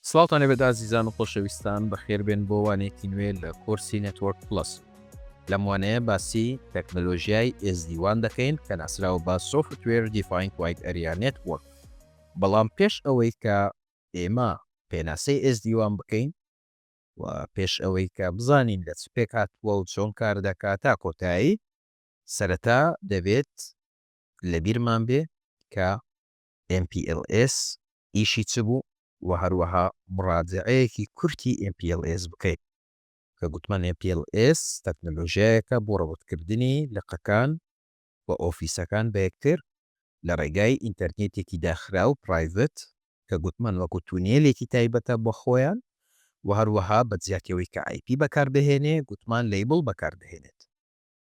سڵاوتان لێبێت ئازیزان و خۆشەویستان بەخێربێن بۆ وانەیەکی نوێ لە کۆرسی نێتوۆرک پڵەس لەم وانەیە باسی تەکنەلۆژیای ئێس دی وان دەکەین کە ناسراوە بە سۆفتوێر دیفاین کوایت ئەریا نێتوۆرک بەڵام پێش ئەوەی کە ئێمە پێناسەی ئێس دی وان بکەین و پێش ئەوەی کە بزانین لە چ پێک هاتووە و چۆن کار دەکات تا کۆتایی سەرەتا دەبێت لەبیرمان بێ کە ئێم پی ئێل ئێس ئیشی چ بوو و هەروەها مڕاجەعەیەکی کورتی ئێم پی ئێل ئێس بکەین کە گوتمان ئێم پی ئێل ئێس تەکنەلۆژیایەکە بۆ ڕەبتکردنی لقەکان و ئۆفیسەکان بە یەکتر لە ڕێگای ئینتەرنێتێکی داخراو پرایڤت کە گوتمان وەکو تونێلێکی تایبەتە بۆ خۆیان و هەروەها بە جیاتی ئەوەی کە ئای پی بەکاردەهێنێ گوتمان لەیبڵ بەکاردەهێنێت.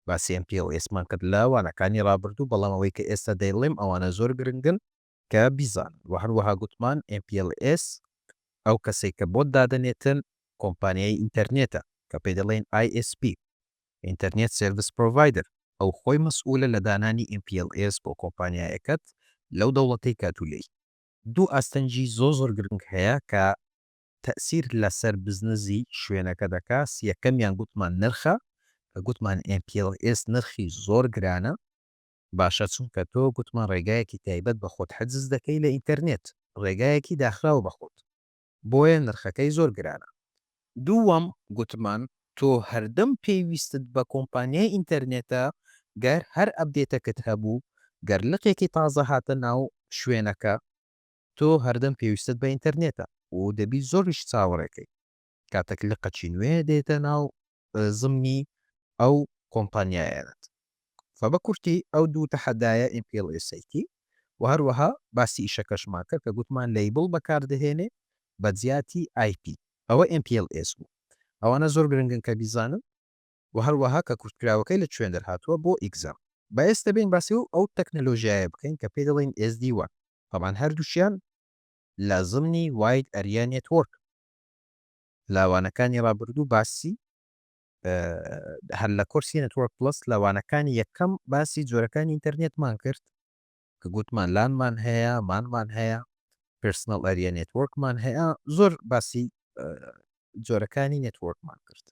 باسی ئەم pos مان کرد لە وانەکانی ڕابردوو بەڵام ئەوەی کە ئێستا دەیڵێم ئەوانە زۆر گرنگن کە بیزانن وە هەروەها گوتمان mPLS ئەو کەسەی کە بۆت دادەنێتن کۆمپانیای ئینتەرنێتە کە پێی دەڵێن ISP ئینتەرنێت سێرڤس پرۆڤایدەر ئەو خۆی مەسئولە لە دانانی mPLS بۆ کۆمپانیایەکەت لەو دەوڵەتەی کە تو لێی. دوو ئاستەنگی زۆر زۆر گرنگ هەیە کە تەئسیر لەسەر بزنزی شوێنەکە دەکاس یەکەمیان گوتمان نرخە کە گوتمان MPLS نرخی زۆر گرانە باشە چونکە تۆ گوتمان ڕێگایەکی تایبەت بە خۆت حجز دەکەی لە ئینتەرنێت ڕێگایەکی داخراو بە خۆت بۆیە نرخەکەی زۆر گرانە دووەم گوتمان تۆ هەردەم پێویستت بە کۆمپانیای ئینتەرنێتە گەر هەر ئەبدێتەکت هەبوو گەر لقێکی تازە هاتە ناو شوێنەکە تۆ هەردەم پێویستت بە ئینتەرنێتە و دەبی زۆریش چاوەڕێ کەی کاتەک لقەکی نوێ دێتە ناو زمنی ئەو کۆمپانیایەنەت فە بە کورتی ئەو دوو تەحەدایە MPLSAT و هەروەها باسی ئیشەکەشمان کرد کە گوتمان لەیبڵ بەکار دەهێنێ بە جیاتی IP ئەوە MPLS بوو ئەوانە زۆر گرنگن کە بیزانن. و هەروەها کە کورتکراوەکەی لە چوێن دەرهاتووە بۆ ئیگزام. با ئێستە بێین باسی ئەو تەکنەلۆژیایە بکەین کە پێی دەڵێین ئێس دی وان، تەبعەن هەردووکیان لە زمنی واید ئەریا نێتوۆرک لە وانەکانی ڕابردوو باسی هەر لە کۆرسی نێتوۆرک پڵەس لە وانەکانی یەکەم باسی جۆرەکانی ئینتەرنێتمان کرد کە گوتمان لانمان هەیە، مانمان هەیە، پێرسنەڵ ئەریا نێتوۆرکمان هەیە، زۆر باسی جۆرەکانی نێتوۆرکمان کرد.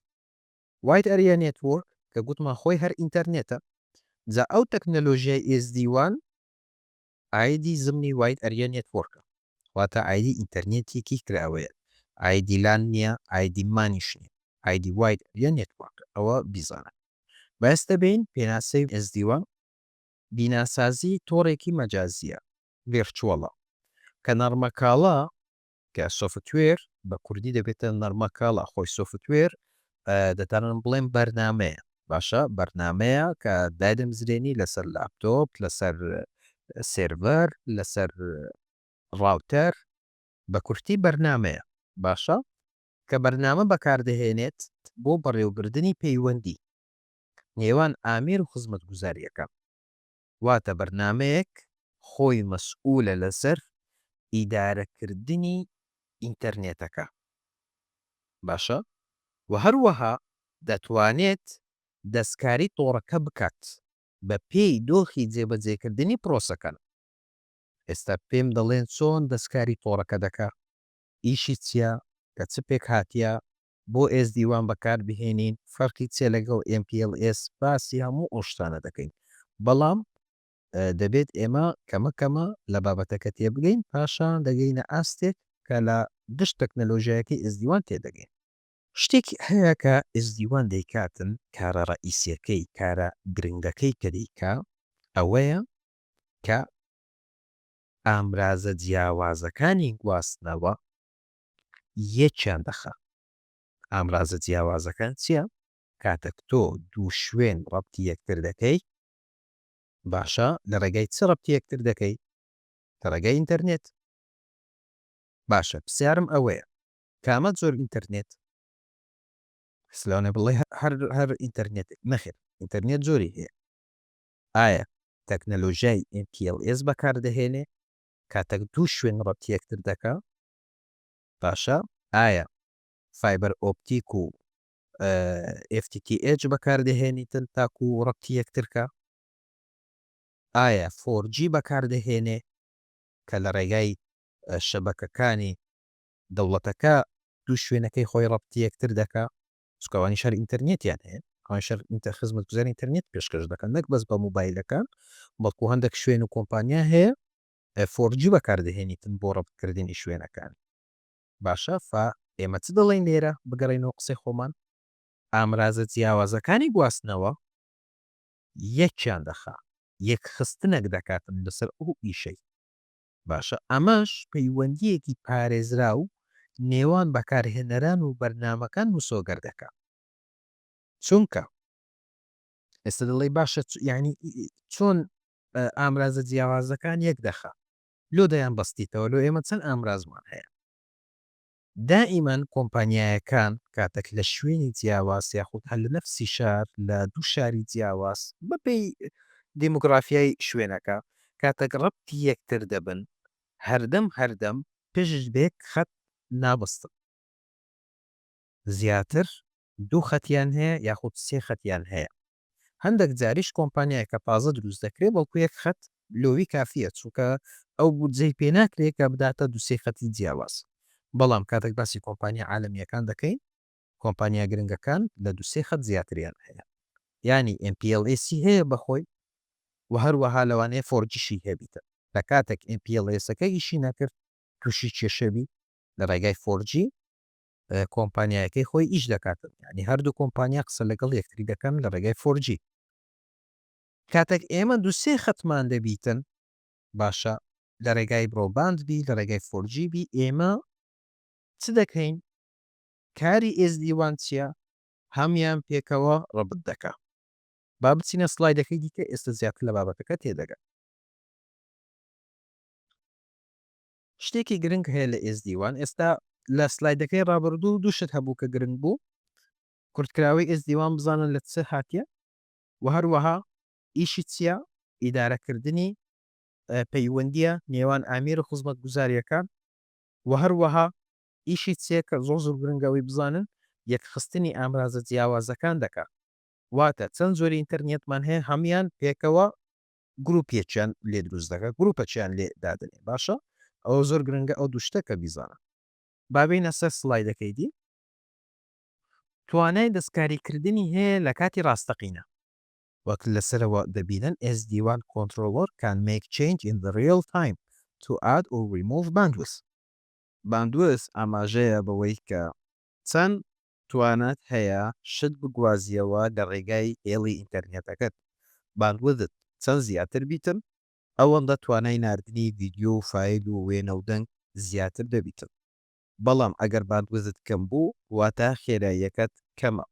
وایت ئەریا نێتوۆرک کە گوتمان خۆی هەر ئینتەرنێتە جا ئەو تەکنەلۆژیای ئێس دی وان ئایدی زمنی وایت ئەریا نێتوۆرکە واتە ئایدی ئینتەرنێتێکی کراوەیە ئایدی لان نیە ئایدی مانیش نیە ئایدی وایت ئەریا نێتوۆرکە ئەوە بیزانە بەستە بین پێناسەی ئێس دی وان بیناسازی تۆڕێکی مەجازیە ڤێرچوەڵە کە نەڕمەکاڵا کە سۆفتوێر بە کوردی دەبێتە نەرمە کاڵا خۆی سۆفتوێر دەتانم بڵێم بەرنمەیە باشە بەرنمەیە کە دادم زرێنی لەسەر لاپتۆپ لەسەر سێرڤەر لەسەر ڕاوتەر بە کورتی بەرنمەیە باشە کە بەرنامە بەکاردەهێنێت بۆ بەڕێوەبردننی پەیوەندی نێوان ئامیر و خزمەت گوزاریەکە واتە بەرنامەیەک خۆی مەسئولە لەسەر ئیدارەکردنی ئینتەرنێتەکە باشە وە هەروەها دەتوانێت دەستکاری تۆڕەکە بکات بە پێی دۆخی جێبەجێکردنی پرۆسەکان ئێستا پێم دەڵێن چۆن دەستکاری تۆڕەکە دەکا ئیشی چیە لە چ پێکهاتیە بۆ ئێسدی وان بەکار بهێنین فەرقی چیە لەگەڵ ئێم پی ئێڵ ئێس باسی هەموو ئەو شتانە دەکەین بەڵام دەبێت ئێمە کەمە کەمە لە بابەتەکە تێبگەین پاشان دەگەینە ئاستێک کە لە گشت تەکنەلۆژیایەکەی ئێسدی وان تێدەگەین. شتێک هەیە کە ئێسدی وان دەیکاتن کارە ڕەئیسیەکەی کارە گرنگەکەی کە دەیکا ئەوەیە کە ئامرازە جیاوازەکانی گواستنەوە یەکیان دەخا. ئامرازە جیاوازەکان چیە؟ کاتەک تۆ دوو شوێن ڕەبتی یەکتر دەکەی باشە لە ڕێگای چ ڕەبتی یەکتر دەکەی؟ لە ڕێگای ئینتەرنێت. باشە پسیارم ئەوەیە کامە جۆر ئینتەرنێت؟ کەس لەوانە بڵێ هەر هەر ئینتەرنێتێک نەخێر ئینتەرنێت جۆری هەیە. ئایا تەکنەلۆژیای MPLS بەکار دەهێنێ کاتەک دوو شوێن ڕەبتی یەکتر دەکا؟ باشە ئایا فایبەر ئۆپتیک و FTTH بەکاردەهێنیتن تاکو ڕەبتی یەکترکە ئایا فۆرجی بەکاردەهێنێ کە لە ڕێگای شەبەکەکانی دەوڵەتەکە دوو شوێنەکەی خۆی ڕەبتی یەکتر دەکا سکوانی شەر ئینتەرنێتیان هەیە ئەوان شەر ئینتە خزمەت گوزار ئینتەرنێت پێشکەش دەکەن نەک بەس بە موبایلەکان بەڵکو هەندێک شوێن و کۆمپانیا هەیە فۆر جی بەکاردەهێنیتن بۆ ڕەبت کردنی شوێنەکان. باشە فا ئێمە چ دەڵێین لێرە بگەڕێینەوە قسەی خۆمان؟ ئامرازە جیاوازەکانی گواستنەوە یەکیان دەخا یەک خستنەک دەکاتن لەسەر ئەو ئیشەی. باشە ئەمەش پەیوەندیەکی پارێزراو نێوان بەکارهێنەران و بەرنامەکان مسۆگەر دەکا چونکە ئێستا دەڵێی باشە یانی چۆن ئامرازە جیاوازەکان یەک دەخا لۆ دەیان بەستیتەوە لۆ ئێمە چەند ئامرازمان هەیە دائیمەن کۆمپانیایەکان کاتەک لە شوێنی جیاواز یاخود هەر لە نەفسی شار لە دوو شاری جیاواز بە پێی دیموگرافیای شوێنەکە کاتەک ڕەبتی یەکتر دەبن هەردەم هەردەم پشت بێک خەت نابەستن. زیاتر دوو خەتیان هەیە یاخود سێ خەتیان هەیە هەندەک جاریش کۆمپانیای کە تازە دروست دەکرێ بەڵکو یەک خەت لۆوی کافیە چونکە ئەو بودجەی پێ ناکرێ کە بداتە دوو سێ خەتی جیاواز بەڵام کاتەک باسی کۆمپانیا عالەمیەکان دەکەین کۆمپانیا گرنگەکان لە دوو سێ خەت زیاتریان هەیە یانی ئێم پی ئێڵ ئێسی هەیە بەخۆی و هەروەها لەوانەیە فۆرجیشی هەبیتە لە کاتەک ئێم پی ئێڵ ئێسەکە ئیشی نەکرد توشی کێشەبی لە ڕێگای فۆرجی کۆمپانیایەکەی خۆی ئیش دەکات یانی هەردوو کۆمپانیا قسە لەگەڵ یەکتری دەکەن لە ڕێگای فۆر جی. کاتەک ئێمە دوو سێ خەتمان دەبیتن باشە لە ڕێگای برۆباند بی لە ڕێگای فۆر جی بی ئێمە چ دەکەین کاری ئێس دی وان چیە هەمیان پێکەوە ڕەبت دەکا با بچینە سڵایدەکەی دیکە ئێستە زیاتر لە بابەتەکە تێدەگەن. شتێکی گرنگ هەیە لە ئێزدی وان ئێستا لە سلایدەکەی ڕابردوو دوو شت هەبوو کە گرنگ بوو کورتکراوەی ئێزدی وان بزانن لە چ هاتیە و هەروەها ئیشی چیە ئیدارەکردنی پەیوەندیە نێوان ئامیر و خزمەتگوزاریەکان و هەروەها ئیشی چیە کە زۆر زۆر گرنگەوەی بزانن یەکخستنی ئامرازە جیاوازەکان دەکات واتە چەند جۆری ئینتەرنێتمان هەیە هەموان پێکەوە گروپ یەکیان لێ دروست دەکە گروپە چیان لێ دادەنێ باشە ئەوە زۆر گرنگە ئەو دوو شتە کە بیزانە. با بێینە سەر سڵایدەکەی دی. توانای دەستکاری کردنی هەیە لە کاتی ڕاستەقینە. وەک لە سەرەوە دەبینن SD WAN Controller can make change in the real time to add or remove bandwidth. باندوێس ئاماژەیە بەوەی کە چەند توانات هەیە شت بگوازیەوە لە ڕێگای هێڵی ئینتەرنێتەکەت، باندویدت چەند زیاتر بیتن ئەوەندە توانای ناردنی ڤیدیۆ و فایل و وێنە و دەنگ زیاتر دەبیتن، بەڵام ئەگەر باندویدت کەم بوو واتا خێراییەکەت کەمە.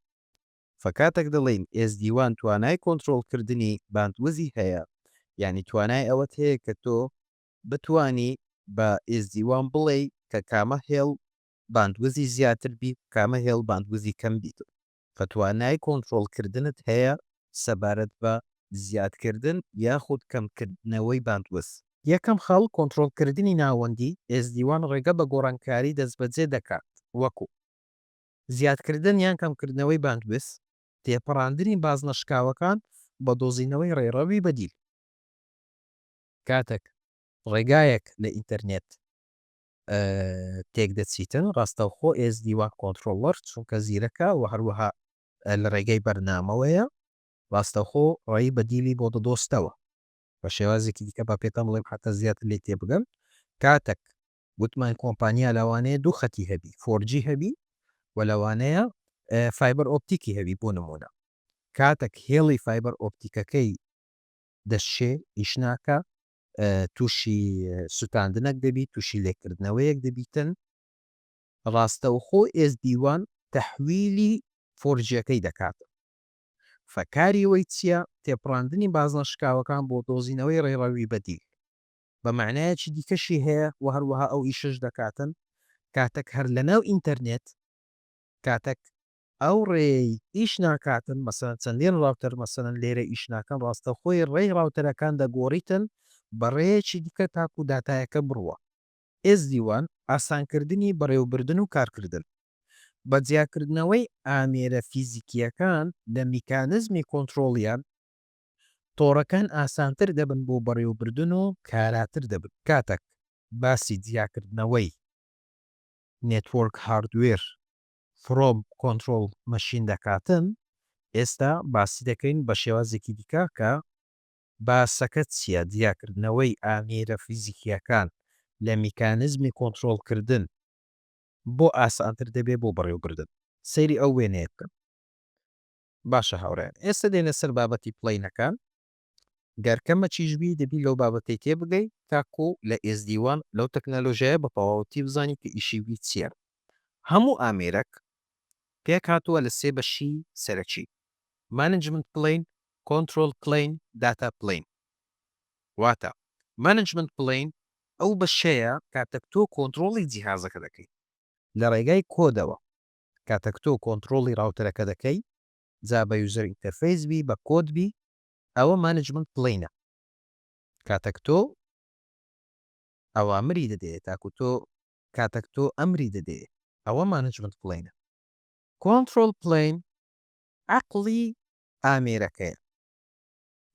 فکاتەک دەڵێین ئێزدی وان توانای کۆنترۆڵ کردنی باندویدی هەیە یانی توانای ئەوەت هەیە کە تۆ بتوانی بە ئێزدی وان بڵێی کە کامە هێڵ باندوزی زیاتر بیت کامە هێڵ باندوزی کەم بیت کە توانای کۆنترۆڵ کردنت هەیە سەبارەت بە زیاد کردن یاخود کەم کردنەوەی باندوز. یەکەم خاڵ کۆنترۆڵ کردنی ناوەندی SD وان ڕێگە بە گۆڕانکاری دەستبەجێ دەکات وەکو، زیاد کردن یان کەم کردنەوەی باندوز، تێپەڕاندنی بازنە شکاوەکان بە دۆزینەوەی ڕێڕەوی بەدیل. کاتەک ڕێگایەک لە ئینتەرنێت تێک دەچیتن، ڕاستەوخۆ ئێزدی وان کۆنترۆڵەر چونکە زیرەکە و هەروەها لە ڕێگەی بەرنامەوەیە، ڕاستەوخۆ ڕێی بەدیلی بۆ دەدۆستەوە. بە شێوازێکی دیکە با پێتان بڵێم حەتا زیاتر لێی تێبگەن، کاتەک وتمان کۆمپانیا لەوانەیە دوو خەتی هەبی، فۆر جی هەبی و لەوانەیە فایبەر ئۆپتیکی هەبی بۆ نموونە، کاتەک هێڵی فایبەر ئۆپتیکەکەی دەشێ ئیش ناکا، تووشی سوتاندنەک دەبیت، تووشی لێکردنەوەیەک دەبیتن، ڕاستەوخۆ ئێزدی وان تەحویلی فۆرجیەکەی دەکاتن. فە کاری وەی چیە؟ تێپڕاندنی بازنە شکاوەکان بۆ دۆزینەوەی ڕێڕەوی بەدیل. بە مەعنایەکی دیکەشی هەیە و هەروەها ئەو ئیشەش دەکاتن کاتەک هەر لەناو ئینتەرنێت کاتەک ئەو ڕێیەی ئیش ناکاتن مەسەلەن چەندین ڕاوتەر مەسەلەن لێرە ئیش ناکەن ڕاستەوخۆی ڕێی ڕاوتەرەکان دەگۆڕیتن بە ڕێیەکی دیکە تاکو داتایەکە بڕوا. SD wan ئاسانکردنی بەڕێوەبردن و کارکردن بە جیاکردنەوەی ئامێرە فیزیکییەکان لە میکانزمی کۆنترۆڵیان تۆڕەکان ئاسانتر دەبن بۆ بەڕێوەبردن و کاراتر دەبن کاتەک باسی جیاکردنەوەی نێتوۆرک هاردوێر فرۆم کۆنترۆڵ مەشین دەکاتن ئێستا باسی دەکەین بە شێوازێکی دیکە کە باسەکە چیە جیا کردنەوەی ئامێرە فیزیکیەکان لە میکانزمی کۆنترۆڵ کردن بۆ ئاسانتر دەبێ بۆ بەڕێوبردن سەیری ئەو وێنەیە بکەن باشە هاوڕێیان ئێستا دێنە سەر بابەتی پڵەینەکان گەر کەمەکیش بی دەبی لەو بابەتەی تێبگەی تاکو لە ئێزدیوان لەو تەکنەلۆژیایە بە تەواوەتی بزانی کە ئیشی وی چیە. هەموو ئامێرەک پێک هاتووە لە سێ بەشی سەرەکی، مانجمنت پلەین، کۆنترۆڵ پلەین، داتا پلەین. واتە، مانجمنت پلەین ئەو بەشەیە کاتەک تۆ کۆنترۆڵی جیهازەکە دەکەی لە ڕێگای کۆدەوە، کاتەک تۆ کۆنترۆڵی ڕاوتەرەکە دەکەی جا بە یوزەر ئینتەرفەیس بی بە کۆد بی ئەوە مانجمنت پلەینە کاتەک تۆ ئەوامری دەدەیە تاکو تۆ کاتەک تۆ ئەمری دەدەیە ئەوە مانجمنت پلەینە کۆنترۆل پلەین عەقڵی ئامێرەکەیە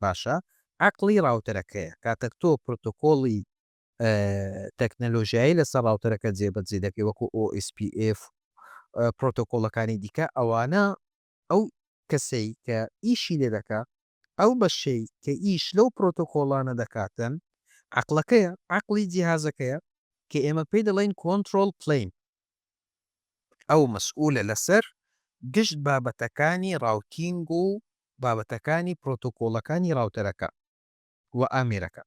باشە عەقڵی ڕاوتەرەکەیە کاتەک تۆ پرۆتۆکۆڵی تەکنەلۆژیایی لەسەر ڕاوتەرەکە جێبەجێ دەکەی وەکو OSPF و پرۆتۆکۆڵەکانی دیکە ئەوانە ئەو کەسەی کە ئیشی لێ دەکا ئەو بەشەی کە ئیش لەو پرۆتۆکۆڵانە دەکاتن عقلەکەیە عقلی جیهازەکەیە کە ئێمە پێی دەڵێن کۆنتترۆل پلین ئەو مەسئولە لەسەر گشت بابەتەکانی ڕاوتینگ و بابەتەکانی پرۆتۆکۆڵەکانی ڕاوتەرەکە و ئامێرەکە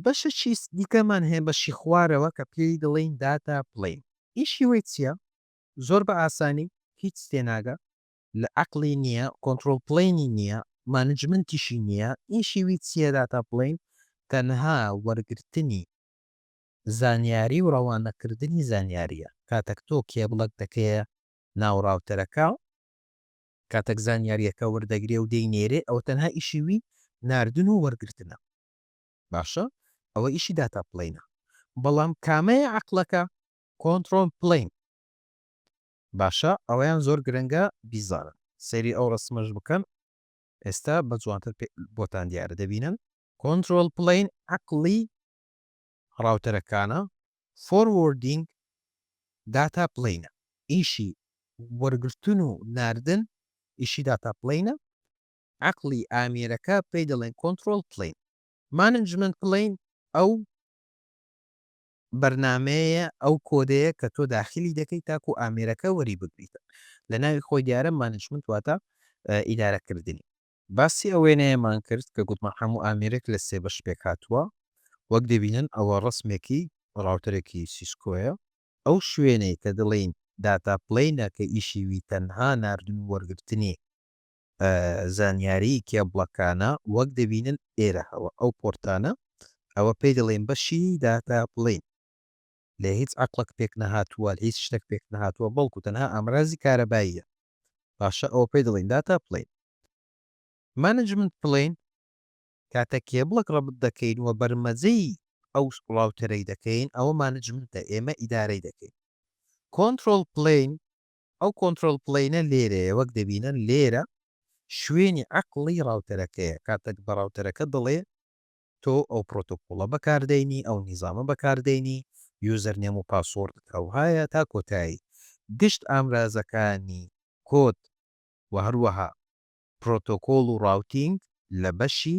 بەشەکی دیکەمان هەیە بەشی خوارەوە کە پێی دەڵێین داتا پلەین ئیشی وەی چیە زۆر بە ئاسانی هیچ تێناگە لە عەقڵی نیە کۆنترۆڵ پلەینی نیە مانجمنتیشی نیە ئیشی وی چیە داتا پلەین تەنها وەرگرتنی زانیاری و ڕەوانە کردنی زانیاریە کاتەک تۆ کێبڵەک دەکەیە ناو ڕاوتەرەکە کاتەک زانیاریەکە وەردەگرێ و دەی نێرێ ئەوە تەنها ئیشی وی ناردن و وەرگرتنە باشە ئەوە ئیشی داتا پلەینە بەڵام کامەیە عەقڵەکە کۆنتڕۆن پلەین باشە ئەوەیان زۆر گرنگە بیزانن سەیری ئەو ڕسمەش بکەن ئێستا بە جوانتر بۆتان دیارە دەبینن کۆنترۆل پلین عقلی ڕاوتەرەکانە فۆروردینگ داتا پلینە ئیشی وەرگرتن و ناردن ئیشی داتا پلینە عەقڵی ئامێرەکە پێی دەڵێن کۆنتڕۆڵ پلەین. مانجمەنت پلەین ئەو بەرنامەیە، ئەو کۆدەیە کە تۆ داخیلی دەکەی تاکو ئامێرەکە وەری بگریتن. لە ناوی خۆی دیارە مانجمنت واتە ئیدارە کردنی. باسی ئەو وێنەیەمان کرد کە گوتمان هەموو ئامێرێک لە سێ بەش پێک هاتووە. وەک دەبینن ئەوە ڕەسمێکی ڕاوتەرێکی سیسکۆیە. ئەو شوێنەی کە دەڵێین داتا پلەینە کە ئیشی وی تەنها ناردن و وەرگرتنی زانیاریی کێبڵەکانە وەک دەبینن ئێرە هەوە ئەو پۆرتانە ئەوە پێی دەڵێین بەشی داتا پلین لێ هیچ عەقڵەک پێک نەهاتووە هیچ شتەک پێک نەهاتووە بەڵکو تەنها ئامرازی کارەباییە باشە ئەوە پێی دەڵێن داتا پلین مانجمنت پلین کاتە کێبڵەک ڕەبت دەکەین و بەرمەجەی ئەو سڵاوتەرەی دەکەین ئەوە مانجمنتە ئێمە ئیدارەی دەکەین کۆنتترۆل پلین ئەو کۆنترۆڵ پلەینە لێرەیە وەک دەبینن لێرە شوێنی عەقڵی ڕاوتەرەکەیە کاتەک بە ڕاوتەرەکە دەڵێ تۆ ئەو پرۆتۆکۆڵە بەکاردەینی ئەو نیزامە بەکاردەینی یوزەرنێم و پاسۆڕدت ئەوهایە تا کۆتایی گشت ئامرازەکانی کۆد وە هەروەها پرۆتۆکۆڵ و ڕاوتینگ لە بەشی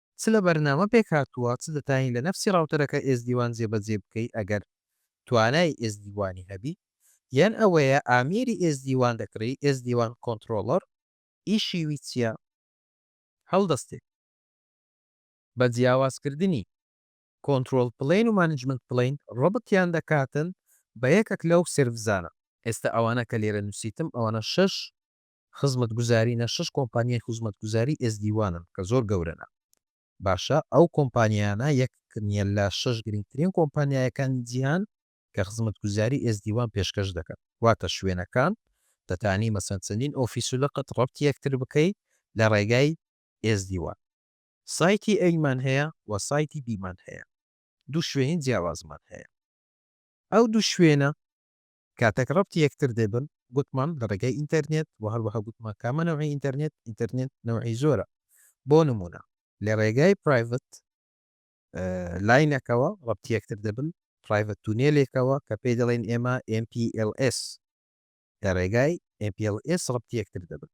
چ لە بەرنامە پێکهاتووە چ دەتانی لە نەفسی ڕاوتەرەکە ئێزدی وان جێبەجێ بکەی ئەگەر توانای ئێزدی وانی هەبی یان ئەوەیە ئامێری ئێزدی وان دەکڕی ئێزدی وان کۆنتڕۆڵەر ی شیوی چیە هەڵدەستێ بە جیاواز کردنی کۆنتڕۆڵ پلەین و مانجمنت پلەین ڕەبتیان دەکاتن بە یەکەک لەو سێرڤزانە. ئێستا ئەوانە کە لێرە نوسیتم ئەوانە شەش خزمەتگوزارینە شەش کۆمپانیای خوزمەتگوزاری ئێزدی وانن کە زۆر گەورەنە باشە ئەو کۆمپانیایانە یەک نیە لە شەش گرنگترین کۆمپانیایەکانی جیهان کە خزمەتگوزاری ئێزدی وان پێشکەش دەکەن واتە شوێنەکان دەتانی مەسەن چەندین ئۆفیسو لقت ڕەبتی یەکتر بکەی لە ڕێگای ئێزدی وان سایتی ئەیمان هەیە وە سایتی بیمان هەیە دوو شوێنی جیاوازمان هەیە ئەو دوو شوێنە کاتێک ڕەبتی یەکتر دەبن گوتمان لە ڕێگای ئینتەرنێت وە هەروەها گوتمان کامە نەوعی ئینتەرنێت ئینتەرنێت نەوعی زۆرە بۆ نموونە لە ڕێگای پرایڤت لاینەکەوە ڕەبتی یەکتر دەبن پرایڤت تونێلێکەوە کە پێی دەڵێن ئێمە MPLS لە ڕێگای MPLS ڕەبتی یەکتر دەبن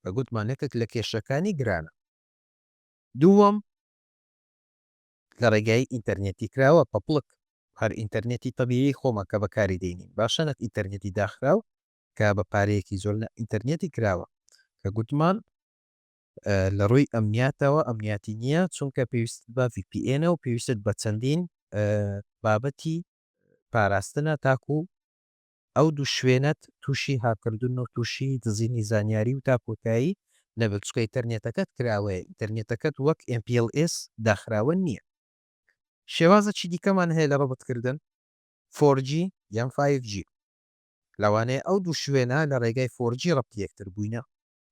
بە گوتمانەکەک لە کێشەکانی گرانە دووەم لە ڕێگای ئینتەرنێتی کراوە پەپڵک هەر ئینتەرنێتی تەبیعی خۆمان کە بەکاری دێنین باشە نەک ئینتەرنێتی داخراو کە بە پارەیەکی زۆر نە ئینتەرنێتی کراوە کە گوتمان لە ڕووی ئەمنیاتەوە ئەمنیاتی نییە چونکە پێویست بە VPN و پێویستت بە چەندین بابەتی پاراستنە تاکو ئەو دوو شوێنەت تووشی هاککردن و تووشی دزینی زانیاری و تا کۆتایی نەبن چونکە ئینتەرنێتەکەت کراوەیە ئینتەرنێتەکەت وەک MPLS داخراوە نییە. شێوازەکی دیکەمان هەیە لە ڕەبتکردن فۆر جی یان فایڤ جی لەوانەیە ئەو دوو شوێنە لە ڕێگای فۆر جی ڕەبتی یەکتر بووینە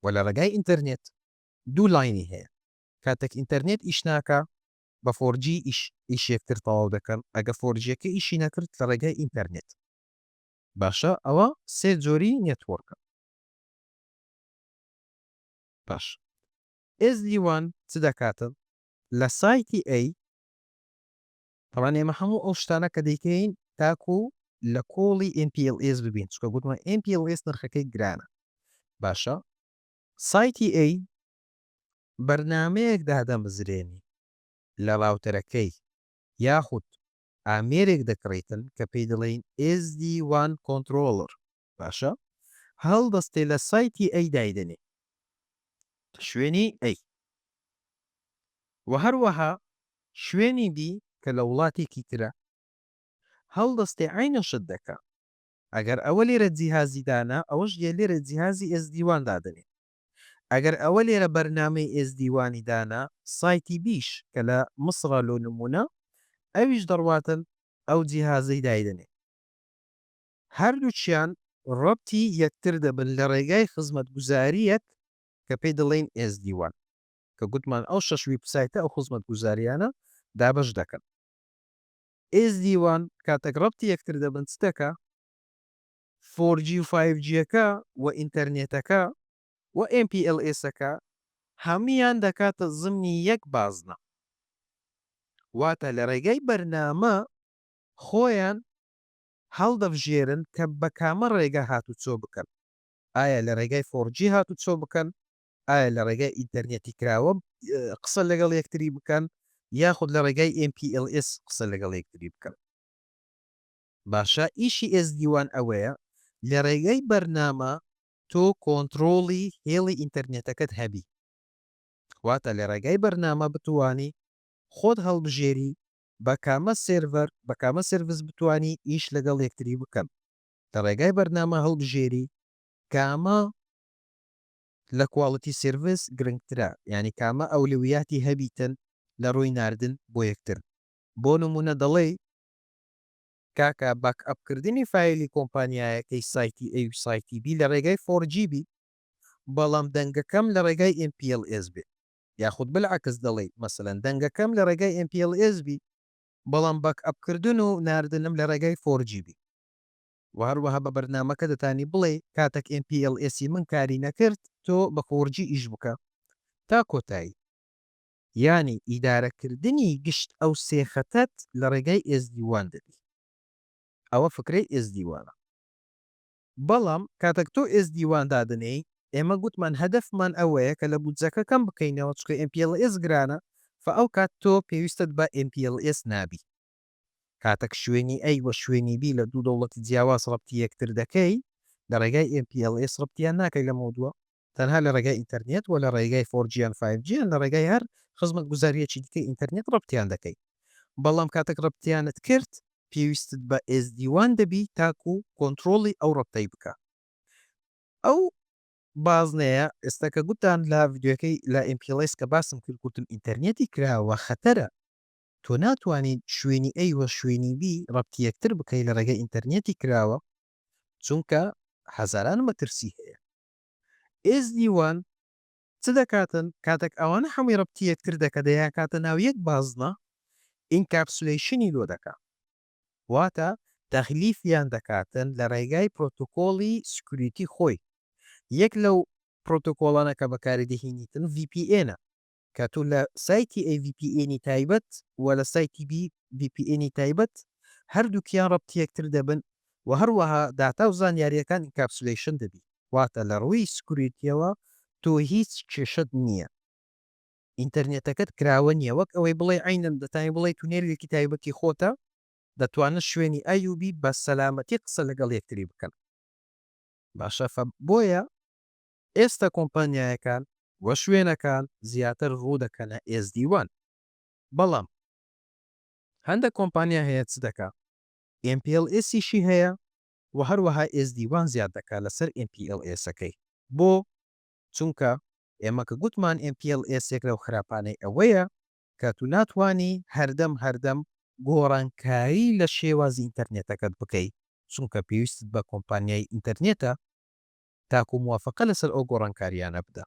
وە لە ڕێگای ئینتەرنێت دوو لاینی هەیە کاتێک ئینتەرنێت ئیش ناکا بە فۆرجی ئیش ئیشی یەکتر تەواو دەکەن ئەگە فۆرجیەکە ئیشی نەکرد لە ڕێگای ئینتەرنێت. باشە ئەوە سێ جۆری نێتوۆرکە. باشە ئێزدی وان چ دەکاتن لە سایتی ئەی. تەبان ئێمە هەموو ئەو شتانە کە دەیکەین تاکو لە کۆڵی MPLS ببین چکە گوتمە MPLS نرخەکەی گرانە باشە سایتی ئەی بەرنامەیەک دادەمزرێنی لە ڕاوتەرەکەی یاخود ئامێرێک دەکڕیتن کە پێی دەڵێین SD wan Controller باشە هەڵدەستێ لە سایتی ئەی دایدەنێ لە شوێنی ئەی وە هەروەها شوێنی بی کە لە وڵاتێکی ترە هەڵدەستێ عەینە شت دەکا ئەگەر ئەوە لێرە جیهازی دانا ئەوەش لێرە جیهازی SD wan دادەنێ ئەگەر ئەوە لێرە بەرنامەی ئێزدی وانی دانا سایتی بیش کە لە مصڕە لۆ نمونە ئەویش دەڕواتن ئەو جیهازەی دایدەنێ هەردووکیان ڕەبتی یەکتر دەبن لە ڕێگای خزمەت گوزاریەک کە پێی دەڵێین ئێزدی وان کە گوتمان ئەو شەش ویب سایتە ئەو خزمەت گوزاریانە دابەش دەکەن ئێزدی وان کاتەک ڕەبتی یەکتر دەبن چ دەکا؟ فۆر جی و فایڤ جیەکە و ئینتەرنێتەکە و ئێم پی ئێل ئێسەکە هەموویان دەکاتە زمنی یەک بازنە واتە لە ڕێگای بەرنامە خۆیان هەڵدەبژێرن کە بە کامە ڕێگا هاتوچۆ بکەن ئایا لە ڕێگای فۆر جی هاتوچۆ بکەن ئایا لە ڕێگای ئینتەرنێتی کراوە قسە لەگەڵ یەکتری بکەن یاخود لە ڕێگای ئێم پی ئێل ئێس قسە لەگەڵ یەکتری بکەن. باشە ئیشی ئێزدی وان ئەوەیە لە ڕێگای بەرنامە تۆ کۆنتڕۆڵی هێڵی ئینتەرنێتەکەت هەبی واتە لە ڕێگای بەرنامە بتوانی خۆت هەڵبژێری بە کامە سێرڤەر بە کامە سێرڤس بتوانی ئیش لەگەڵ یەکتری بکەن لە ڕێگای بەرنامە هەڵبژێری کامە لە کواڵتی سێرڤس گرنگترە یانی کامە ئەولویاتی هەبیتن لە ڕووی ناردن بۆ یەکتر بۆ نمونە دەڵێی کاکە باک ئەپ کردنی فایلی کۆمپانیایەکەی سایتی ئەی و سایتی بی لە ڕێگای فۆر جی بی بەڵام دەنگەکەم لە ڕێگای ئێم پی ئێڵ ئێس بێ یاخود بلعکس دەڵێی مەسەلەن دەنگەکەم لە ڕێگای ئێم پی ئێڵ ئێس بی بەڵام باک ئەپ کردن و ناردنم لە ڕێگای فۆر جی بی وە هەروەها بە بەرنامەکە دەتانی بڵێی کاتەک ئێم پی ئێڵ ئێسی من کاری نەکرد تۆ بە فۆر جی ئیش بکە تا کۆتایی. یانی ئیدارەکردنی گشت ئەو سێ خەتەت لە ڕێگای ئێزدی وان دەبی ئەوە فکرەی ئێزدی وانە بەڵام کاتەک تۆ ئێزدی وان دادەنێی ئێمە گوتمان هەدەفمان ئەوەیە کە لە بودجەکە کەم بکەینەوە چکە ئێم پی ئێڵ ئێس گرانە فە ئەو کات تۆ پێویستت بە ئێم پی ئێڵ ئێس نابی کاتەک شوێنی ئەی وە شوێنی بی لە دوو دەوڵەتی جیاواز ڕەبتی یەکتر دەکەی لە ڕێگای ئێم پی ئێڵ ئێس ڕەبتیان ناکەی لەمەو دووە تەنها لە ڕێگای ئینتەرنێت وە لە ڕێگای فۆر جی یان فایڤ جی یان لە ڕێگای هەر خزمەت گوزاریەکی دیکەی ئینتەرنێت ڕەبتیان دەکەی بەڵام کاتەک ڕەبتیانت کرد پێویستت بە ئێس دی وان دەبی تاکو کۆنتڕۆڵی ئەو ڕەبتەی بکا ئەو بازنەیە ئێستا کە گوتان لە ڤیدیۆکەی لە ئێم پی ڵێس کە باسم کرد گوتم ئینتەرنێتی کراوە خەتەرە تۆ ناتوانین شوێنی ئەی وە شوێنی بی ڕەبتی یەکتر بکەی لە ڕێگەی ئینتەرنێتی کراوە چونکە هەزاران مەترسی هەیە ئێزدی وان چ دەکاتن کاتەک ئەوانە هەمووی ڕەبتی یەکتر دەکە دەیاکاتە ناو یەک بازنە ئینکاپسولەیشنی لۆ دەکا واتە تەغلیفیان دەکاتن لە ڕێگای پرۆتۆکۆڵی سکوریتی خۆی یەک لەو پرۆتۆکۆڵانە کە بەکاری دەهینیتن ڤی پی ئێنە کە تۆ لە سایتی ئەی ڤی پی ئێنی تایبەت و لە سایتی بی ڤی پی ئێنی تایبەت هەردووکیان ڕەبتی یەکتر دەبن و هەروەها داتا و زانیاریەکان ئینکاپسولەیشن دەبی واتە لە ڕووی سکوریتیەوە تۆ هیچ کێشەت نیە ئینتەرنێتەکەت کراوە نیە وەک ئەوەی بڵێی عەینەن دەتانی بڵێی تونێلێکی تایبەتی خۆتە دەتوانن شوێنی ئەی و بی بە سەلامەتی قسە لەگەڵ یەکتری بکەن باشە فە بۆیە ئێستا کۆمپانیایەکان و شوێنەکان زیاتر ڕوو دەکەنە ئێزدی وان بەڵام هەندەک کۆمپانیا هەیە چ دەکا ئێم پی ئێڵ ئێسیشی هەیە و هەروەها ئێزدی وان زیاد دەکا لەسەر ئێم پی ئێڵ ئێسەکەی بۆ چونکە ئێمە کە گوتمان ئێم پی ئێڵ ئێس یەک لەو خراپانەی ئەوەیە کە تو ناتوانی هەردەم هەردەم گۆڕانکاری لە شێوازی ئینتەرنێتەکەت بکەی چونکە پێویستت بە کۆمپانیای ئینتەرنێتە تاکو موافەقە لەسەر ئەو گۆڕانکاریانە بدا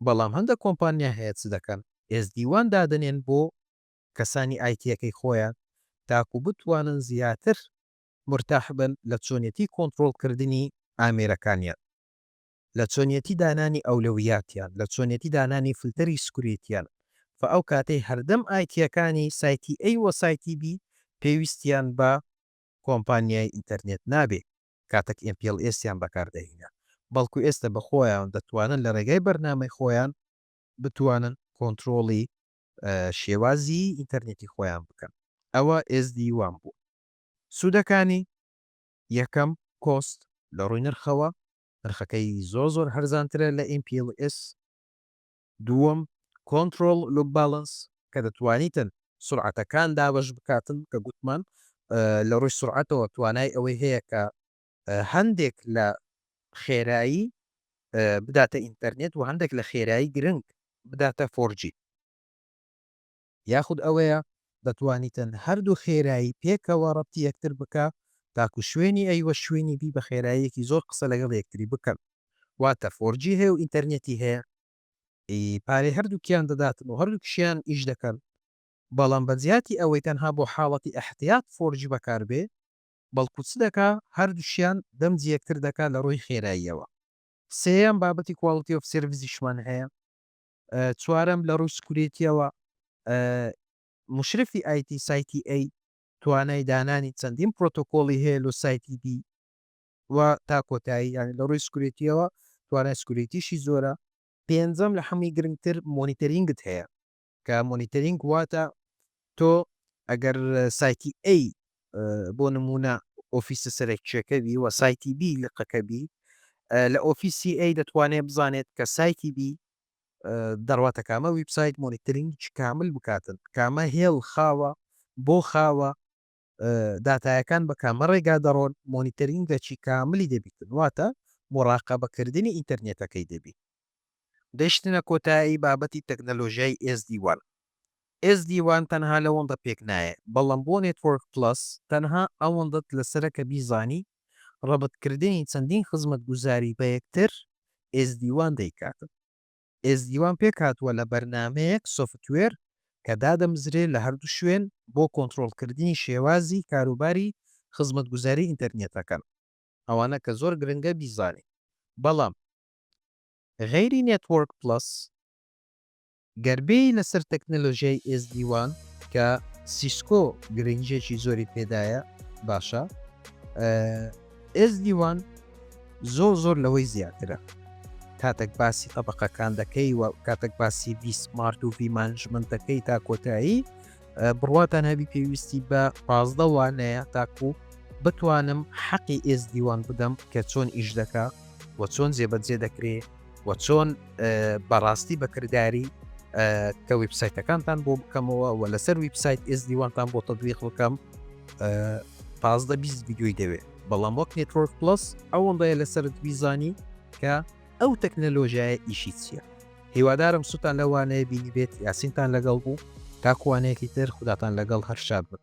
بەڵام هەندەک کۆمپانیا هەیە چ دەکەن؟ SD وان دادەنێن بۆ کەسانی ئایتیەکەی خۆیان تاکو بتوانن زیاتر مورتاح بن لە چۆنیەتی کۆنترۆڵ کردنی ئامێرەکانیان لە چۆنیەتی دانانی ئەولەویاتیان لە چۆنیەتی دانانی فلتەری سکوریتیان فە ئەو کاتەی هەردەم ئایتیەکانی سایتی ئەی وە سایتی بی پێویستیان بە کۆمپانیای ئینتەرنێت نابێ. کاتەک ئێم پیڵ ئێسیان بەکار دەهینا بەڵکو ئێستە بە خۆیان دەتوانن لە رێگای بەرنامەی خۆیان بتوانن کۆنترۆڵی شێوازی ئینتەرنێتی خۆیان بکەن ئەوە ئێس دی وان بوو سوودەکانی یەکەم کۆست لە ڕووی نرخەوە نرخەکەی زۆر زۆر هەرزانترە لە ئیم پیڵ ئێس دووەم، Control Loop Balance، کە دەتوانیتن سورعەتەکان دابەش بکاتن کە گوتمان لە ڕووی سورعەتەوە توانای ئەوەی هەیە کە هەندێک لە خێرایی بداتە ئینتەرنێت و هەندێک لە خێرایی گرنگ بداتە فۆرجی. یاخود ئەوەیە دەتوانیتن هەردوو خێرایی پێکەوە ڕەپتی یەکتر بکە تاکو شوێنی ئەی وە شوێنی بی بە خێراییەکی زۆر قسە لەگەڵ یەکتری بکەن واتە فۆرجی هەیە و ئینتەرنێتی هەیە ئی پارەی هەردووکیان دەداتن و هەردووکشیان ئیش دەکەن بەڵام بە جیاتی ئەوەی تەنها بۆ حاڵەتی ئەحتیات فۆرجی بەکار بێ بەڵکو چ دەکا هەردووشیان دەمجی یەکتر دەکا لە ڕووی خێراییەوە سێیەم بابەتی کواڵتی ئۆف سێرڤیسیشمان هەیە چوارەم، لە ڕووی سکوریتییەوە، مشرفی ئایتی سایتی ئەی توانای دانانی چەندین پرۆتۆکۆڵی هەیە لۆ سایتی بی و تا کۆتایی یانی لە ڕووی سکوریتییەوە توانای سکوریتیشی زۆرە. پێنجەم، لە حەمووی گرنگتر مۆنیتەرینگت هەیە کە مۆنیتەرینگ واتە تۆ ئەگەر سایتی A بۆ نموونە ئۆفیسە سەرەکییەکە بی و سایتی B لقەکە بی، لە ئۆفیسی A دەتوانێت بزانێت کە سایتی B دەڕواتە کامە ویبسایت مۆنیترینگی کامل بکاتن، کامە هێڵ خاوە، بۆ خاوە، داتایەکان بە کامە ڕێگا دەڕۆن، مۆنیتەرینگەکی کاملی دەبیتن، واتە موراقەبەکردنی ئینتەرنێتەکەی دەبی. گەیشتنە کۆتایی بابەتی تەکنەلۆژیای ئێسدی وان. ئێسدی وان تەنها لەوەندە پێک نایێ، بەڵام بۆ نێتوۆرک پڵەس تەنها ئەوەندەت لەسەرە کە بیزانی ڕەبتکردنی چەندین خزمەتگوزاری بە یەکتر ئێسدی وان دەیکاتن. ئێزدی وام پێکهاتووە لە بەرنامەیەک، سۆفتوێر، کە دادەمزرێ لە هەردوو شوێن بۆ کۆنترۆڵکردنی شێوازی کاروباری خزمەتگوزاری ئینتەرنێتەکەن. ئەوانە کە زۆر گرنگە بیزانیت بەڵام غەیری نێتوۆرک پڵەس گەر بێی لەسەر تەکنەلۆژیای ئێزدی وان کە سیسکۆ گرنگیەکی زۆری پێدایە باشە. ئێزدی وان زۆر زۆر لەوەی زیاترە کاتەک باسی تەبەقەکان دەکەی و کاتەک باسی ویسمارت و ویمانجمنت دەکەی تا کۆتایی بڕواتان هەبی پێویستی بە پازدە وانەیە تاکو بتوانم حەقی ئێزدیوان بدەم کە چۆن ئیش دەکە و چۆن جێبەجێ دەکرێ و چۆن بەڕاستی بەکرداری کە ویبسایتەکانتان بۆ بکەمەوە و لەسەر ویبسایت ئێزدیوانتان بۆ تەدویق بکەم پازدە بیست ویددیوی دەوێت بەڵام وەک نێتۆرک پلس ئەوەندەیە لەسەر بیزانی کە ئەو تەکنەلۆژیایە ئیشی چییە هیوادارم سووتان لەوانەیە بینی بێت یاسینتان لەگەڵ بوو تاکوانەیەکی تر خوداتان لەگەڵ هەر شاد بن